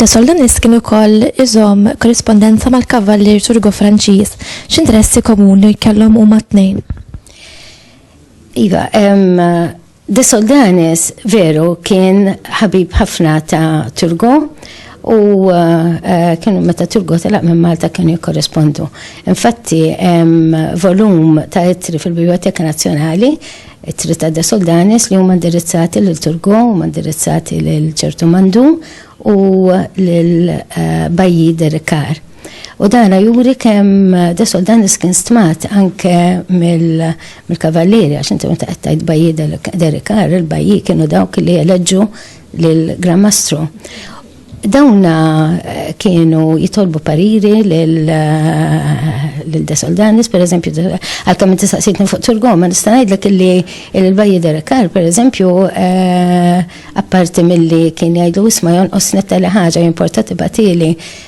Da Soldanis kien ukoll iżom korrispondenza mal-kavallier Turgo Franċiż. X'interessi komuni kellhom huma tnejn? Iva, De Soldanis veru kien ħabib ħafna ta' Turgo u eh, kienu meta Turgo telaq minn Malta kienu jikkorrespondu. Infatti hemm volum ta' ittri fil-Biblioteka Nazzjonali ittri ta' De Soldanis li huma indirizzati lil Turgo, huma indirizzati lil ċertu Mandu u lil eh, Bajji Derikar. U dana juri kemm de Soldanis kien stmat anke mill-kavallieri, għax inti meta qed tgħid bajji derikar, il-bajji kienu dawk li eleġġu lill-Gran Mastru. Dawna eh, kienu jitolbu pariri l-De eh, Soldanis, per eżempju, għal-kam inti saqsitni fuq Turgom, ma nista' ngħidlek illi il-Bajji Derekar, per eżempju, eh, apparti milli kien jgħidu isma' jonqos netta li ħaġa jimportati batili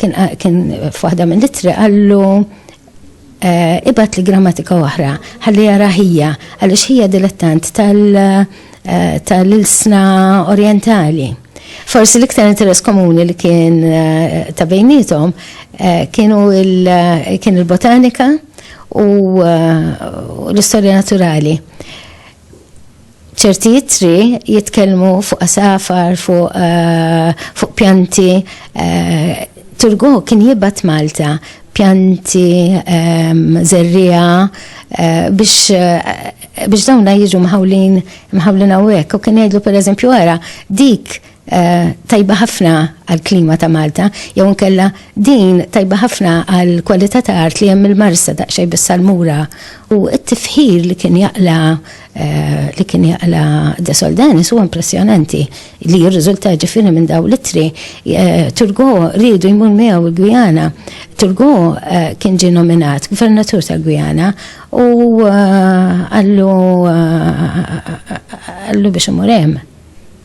Kien kien f'waħda mill-ittri qallu eh, ibat li grammatika oħra, ħalli jara ħija, għaliex ħija dilettant eh, tal-ilsna orientali. Forsi l-iktar interess komuni li kien eh, ta' bejnietom eh, kienu eh, kien il-botanika u l-istorja naturali. ċerti ittri jitkellmu fuq asafar, fuq fu pjanti. Eh, Turgo kien jibat Malta pjanti, ehm, zerrija, eh, biex eh, biex dawna jiġu mħawlin mħawlin għawek. U kien jgħidlu per eżempju għara, dik tajba ħafna għall-klima ta' Malta, jew inkella din tajba ħafna għall-kwalità ta' art li hemm il-Marsa daqsxejn bis-salmura u t-tifħir li kien jaqla li kien jaqla De Soldanis huwa impressjonanti li jirriżulta ġifieri minn dawn l-ittri. Turgo riedu jmur miegħu l-Gwijana. Turgo kien ġie nominat gvernatur tal-Gwijana u qallu qallu biex imur hemm.